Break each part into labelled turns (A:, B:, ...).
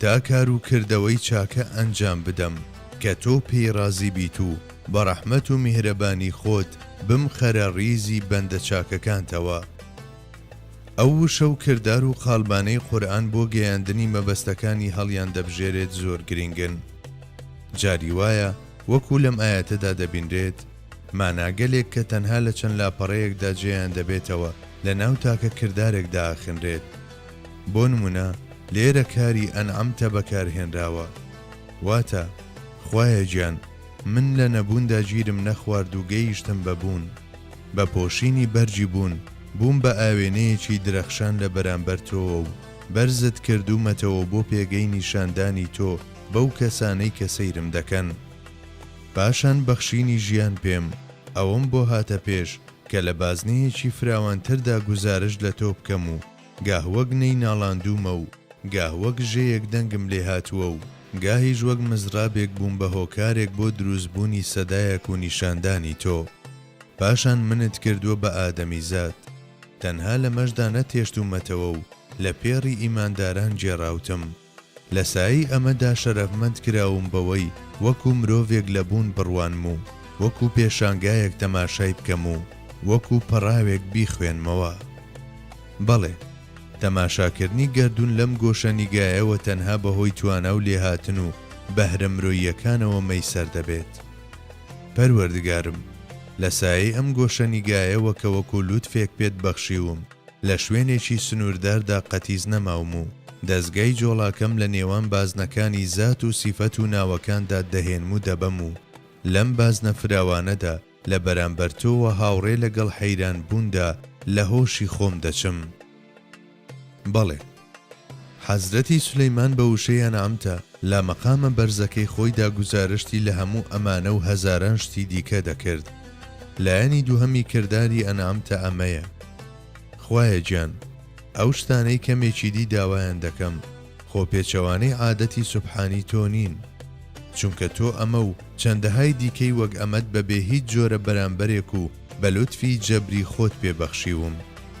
A: تا کار و کردەوەی چاکە ئەنجام بدەم کە تۆ پێی ڕازی بیت و بە ڕەحمەت و میهرەبانی خۆت بمخەرە ڕیزی بەندە چاکەکانتەوە. ئەو وشە و کردار و قالبانەی قورئان بۆ گەیاندنی مەبەستەکانی هەڵیان دەبژێرێت زۆر گرینگن. جاری وایە وەکو لەم ئایەتەدا دەبینرێت ماناگەلێک کە تەنها لە چەند لاپەڕەیەکدا جێیان دەبێتەوە لە ناو تاکە کردارێکدا ئەخنرێت. بۆ نمونە لێرە کاری انعمت بەکارهێنراوە واتە، خوایە گیان من لە نەبووندا گیرم نەخوارد و گەیشتم بە بوون، بە پۆشینی بەرگی بوون بووم بە ئاوێنەیەکی درەخشان لە بەرامبەر تۆوە و بەرزت کردوومەتەوە بۆ پێگەی نیشاندانی تۆ بەو کەسانەی کە سەیرم دەکەن پاشان بەخشینی ژیان پێم ئەوەم بۆ هاتە پێش کە لە بازنەیەکی فراوانتردا گوزارشت لە تۆ بکەم و گاه وەک نەی ناڵاندوومە و گاه وەک ژێیەک دەنگم لێ هاتووە و گاهیش وەک مزرابێک بووم بە هۆکارێک بۆ دروست بوونی سەدایەک و نیشاندانی تۆ پاشان منت کردووە بە ئادەمیزاد تەنها لەمەشدا نەتهێشتوومەتەوە و لە پێڕی ئیمانداران گێڕاوتم. لە سایەی ئەمەدا شەرەفمەند کراوم بەوەی وەکو مرۆڤێک لە بوون بڕوانم و وەکو پێشانگایەک تەماشای بکەم و وەکو پەڕاوێک بیخوێنمەوە. بەڵێ، تەماشاکردنی گەردوون لەم گۆشەنیگایەوە تەنها بەهۆی توانا و لێهاتن و بەهرە مرۆییەکانەوە مەیسەر دەبێت. پەروەردگارم، لە سایەی ئەم گۆشەنیگایەوە کە وەکو لوتفێک پێت بەخشیوم، لە شوێنێکی سنوورداردا قەتیس نەماوم و دەزگای جۆڵاکەم لە نێوان بازنەکانی زات و سیفەت و ناوەکاندا دەهێنم و دەبەم و لەم بازنە فراوانەدا لە بەرامبەر تۆ و هاوڕێ لەگەڵ حەیرانبووندا لە هۆشی خۆم دەچم. بەڵێ. حەزرەتی سولەیمان بە وشەی ئەنعەمتە لە مەقامە بەرزەکەی خۆیدا گوزارشتی لە هەموو ئەمانە و هەزاران شتی دیکە دەکرد. لایەنی دووهەمی کرداری ئەنعەمتە ئەمەیە، خوایە گیان ئەو شتانەی کەمێکی دی داوایان دەکەم خۆ پێچەوانەی عادەتی سوبحانی تۆ نین، چونکە تۆ ئەمە و چەندەهای دیکەی وەک ئەمەت بە بێ هیچ جۆرە بەرامبەرێک و بە لوتفی جەبری خۆت پێ بەخشیوم.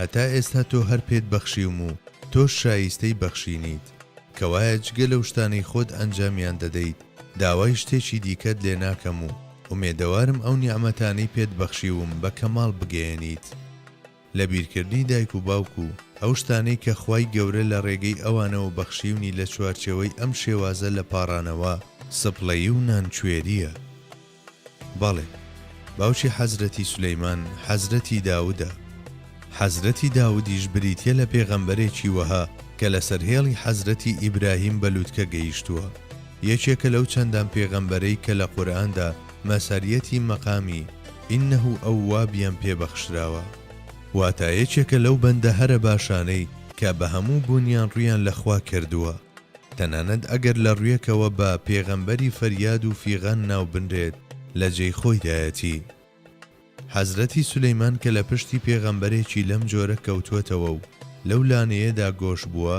A: هەتا ئێستا تۆ هەر پێت بەخشیوم و تۆش شاییستەی بەخشینیت، کەوایە جگە لەو شتانەی خۆت ئەنجامیان دەدەیت داوای شتێکی دیکەت لێ ناکەم و ئومێدەوارم ئەو نیعمەتانەی پێت بەخشیوم بە کەماڵ بگەیەنیت لە بیرکردنی دایک و باوک و ئەو شتانەی کە خوای گەورە لە ڕێگەی ئەوانەوە بەخشیونی لە چوارچێوەی ئەم شێوازە لە پاڕانەوە، سپڵەیی و نانکوێرییە. بەڵێ، باوکی حەزرەتی سولەیمان حەزرەتی داودە، حەزرەتی داودیش بریتیە لە پێغەمبەرێکی وەها کە لەسەر هێڵی حەزرەتی ئیبراهیم بە لوتکە گەیشتووە، یەکێکە لەو چەندان پێغەمبەرەی کە لە قورئاندا مەسەریەتی مەقامی، انه اواب، یان پێ بەخشراوە. واتە یەکێکە لەو بەندە هەرە باشانەی کە بە هەموو بوونیان ڕوویان لە خوا کردووە. تەنانەت ئەگەر لە ڕویەکەوە بە، پێغەمبەری فەریاد و فیغان، ناو بنرێت لە جێی خۆیدایەتی. حەزرەتی سولەیمان کە لە پشتی پێغەمبەرێکی لەم جۆرە کەوتوەتەوە و لەو لانەیەدا گۆش بووە،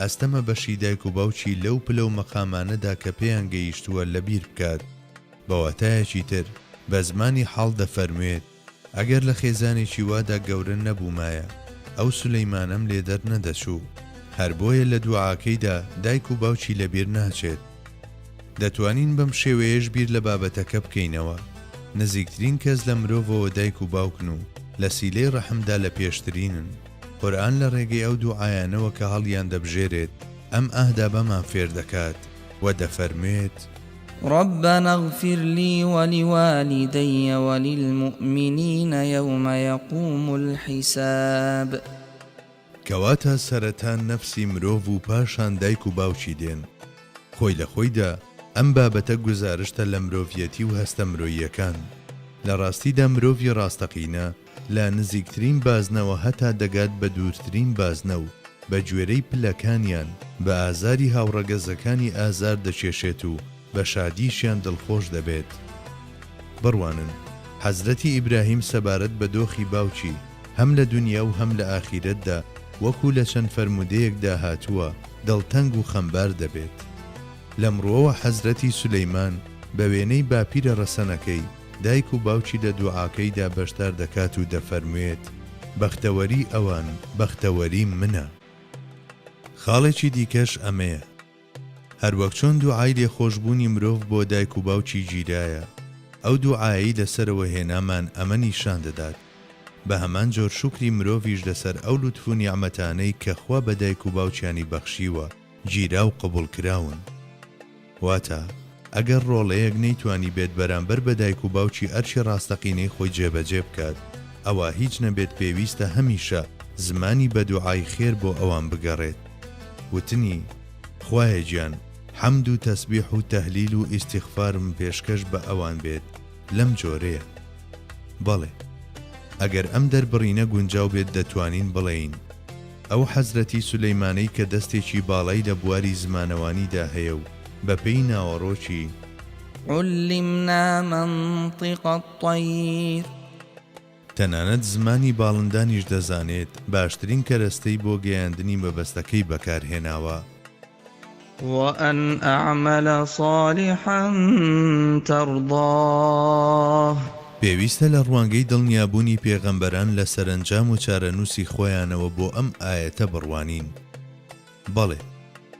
A: ئەستەمە بەشی دایک و باوکی لەو پلە و مەقامانەدا کە پێیان گەیشتووە لەبیر بکات. بە واتایەکی تر بە زمانی حاڵ دەفەرموێت. ئەگەر لە خێزانێکی وادا گەورە نەبوومایە ئەو سولەیمانەم لێ دەرنەدەچوو، هەر بۆیە لە دوعاکەیدا دایک و باوکی لەبیر ناچێت. دەتوانین بەم شێوەیەش بیر لە بابەتەکە بکەینەوە، نزیکترین کەس لە مرۆڤەوە دایک و باوکن و لە سیلەی ڕەحمدا لە پێشترینن. قورئان لە ڕێگەی ئەو دوعایانەوە کە هەڵیاندەبژێرێت ئەم ئاهدابەمان فێردەکات. و دەفەرموێت. ربنا
B: اغفر لی ولوالدی وللمؤمنین یوم یقوم الحساب
A: کەواتە سەرەتا نەفسی مرۆڤ و پاشان دایک و باوکی دێن، خۆی لە خۆیدا ئەم بابەتە گوزارشتە لە مرۆڤیەتی و هەستە مرۆییەکان، لە ڕاستیدا مرۆڤی ڕاستەقینە، لە نزیکترین بازنەوە هەتا دەگات بە دوورترین بازنە و بەگوێرەی پلەکانیان بە ئازاری هاوڕەگەزەکانی ئازار دەکێشێت و بە شادیشیان دڵخۆش دەبێت. بڕوانن، حەزرەتی ئیبراهیم سەبارەت بە دۆخی باوکی، هەم لە دونیا و هەم لە ئاخیرەتدا، وەکو لە چەند فەرموودەیەکدا هاتووە، دڵتەنگ و خەمبار دەبێت. لەم ڕووەوە حەزرەتی سولەیمان بە وێنەی باپیرە ڕەسەنەکەی، دایک و باوکی لە دوعاکەیدا بەشدار دەکات و دەفەرموێت، بەختەوەری ئەوان، بەختەوەری منە. خاڵێکی دیکەش ئەمەیە، هەروەک چۆن دوعای لێخۆشبوونی مرۆڤ بۆ دایک و باوکی گیرایە، ئەو دوعایەی لەسەرەوە هێنامان ئەمە نیشان دەدات، بە هەمان جۆر شوکری مرۆڤیش لەسەر ئەو لوتف و نیعمەتانەی کە خوا بە دایک و باوکیانی بەخشیوە، گیراو قبوڵ کراون واتا ئەگەر ڕۆڵەیەک نەیتوانی بێت بەرامبەر بە دایک و باوکی ئەرکی ڕاستەقینەی خۆی جێبەجێ بکات ئەوا هیچ نەبێت پێویستە هەمیشە زمانی بە دوعای خێر بۆ ئەوان بگەڕێت وتنی خوایە گیان حەمد و تەسبیح و تەهلیل و ئیستیغفارم پێشکەش بە ئەوان بێت لەم جۆرەیە بەڵێ ئەگەر ئەم دەربڕینە گونجاو بێت دەتوانین بڵێین. ئەو حەزرەتی سولەیمانەی کە دەستێکی باڵای لە بواری زمانەوانیدا هەیە و بە پێی ناوەڕۆکی.
B: عُلِّمنا منطق الطیر.
A: تەنانەت زمانی باڵندانیش دەزانێت، باشترین کەرەستەی بۆ گەیاندنی مەبەستەکەی بەکارهێناوە.
B: وان اعمل صالحا ترضاه. پێویستە لە
A: ڕوانگەی دڵنیابوونی پێغەمبەران لە سەرەنجام و چارەنووسی خۆیانەوە بۆ ئەم ئایەتە بڕوانین. بەڵێ،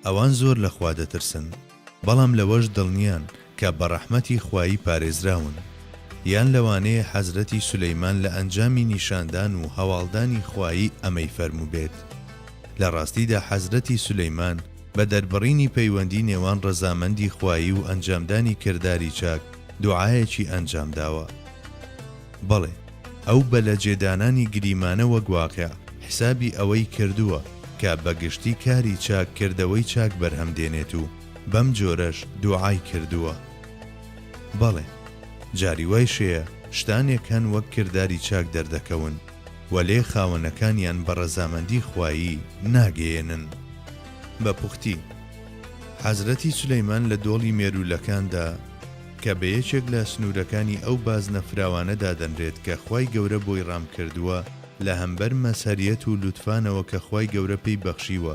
A: ئەوان زۆر لە خوا دەترسن، بەڵام لەوەش دڵنیان کە بە ڕەحمەتی خوایی پارێزراون، یان لەوانەیە حەزرەتی سولەیمان لە ئەنجامی نیشاندان و هەواڵدانی خوایی ئەمەی فەرمووبێت، لە ڕاستیدا حەزرەتی سولەیمان بە دەربڕینی پەیوەندی نێوان ڕەزامەندی خوایی و ئەنجامدانی کرداری چاک دوعایەکی ئەنجامداوە. بەڵێ، ئەو بە لە جێدانانی گریمانە وەک واقع حیسابی ئەوەی کردووە کە بە گشتی کاری چاک کردەوەی چاک بەرهەم دێنێت و، بەم جۆرەش دوعای کردووە. بەڵێ، جاری وایش هەیە شتانێک هەن وەک کرداری چاک دەردەکەون، وەلێ خاوەنەکانیان بە ڕەزامەندی خوایی ناگەیێنن. بە پوختی، حەزرەتی سولەیمان لە دۆڵی مێروولەکاندا، کە بە یەکێک لە سنوورەکانی ئەو بازنە فراوانە دادەنرێت کە خوای گەورە بۆی ڕام کردووە، لە هەمبەر مەزهەریەت و لوتفانەوە کە خوای گەورە پێی بەخشیوە،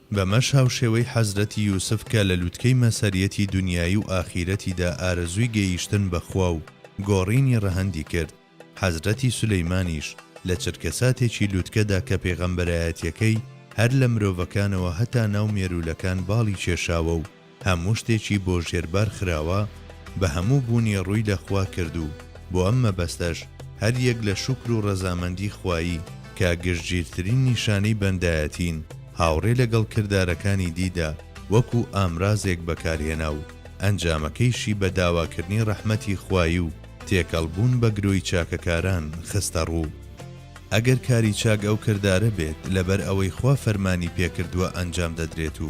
A: بەمەش هاوشێوەی حەزرەتی یوسف کە لە لوتکەی مەسەریەتی دونیایی و ئاخیرەتیدا ئارەزووی گەییشتن بە خوا و گۆڕینی ڕەهەندی کرد، حەزرەتی سولەیمانیش لە چرکەساتێکی لوتکەدا کە پێغەمبەرایەتیەکەی هەر لە مرۆڤەکانەوە هەتا ناو مێروولەکان باڵی کێشاوە و هەموو شتێکی بۆ ژێربار خراوە بە هەموو بوونی ڕووی لە خوا کرد و بۆ ئەم مەبەستەش هەر یەک لە شوکر و ڕەزامەندی خوایی کە گشتگیرترین نیشانەی بەندایەتین هاوڕێ لەگەڵ کردارەکانی دیدا وەکو ئامرازێک بەکارهێنا و ئەنجامەکەیشی بە داواکردنی ڕەحمەتی خوایی و تێکەڵ بوون بە گرۆی چاکەکاران خستە ڕوو. ئەگەر کاری چاک ئەو کردارە بێت لەبەر ئەوەی خوا فەرمانی پێکردووە ئەنجام دەدرێت و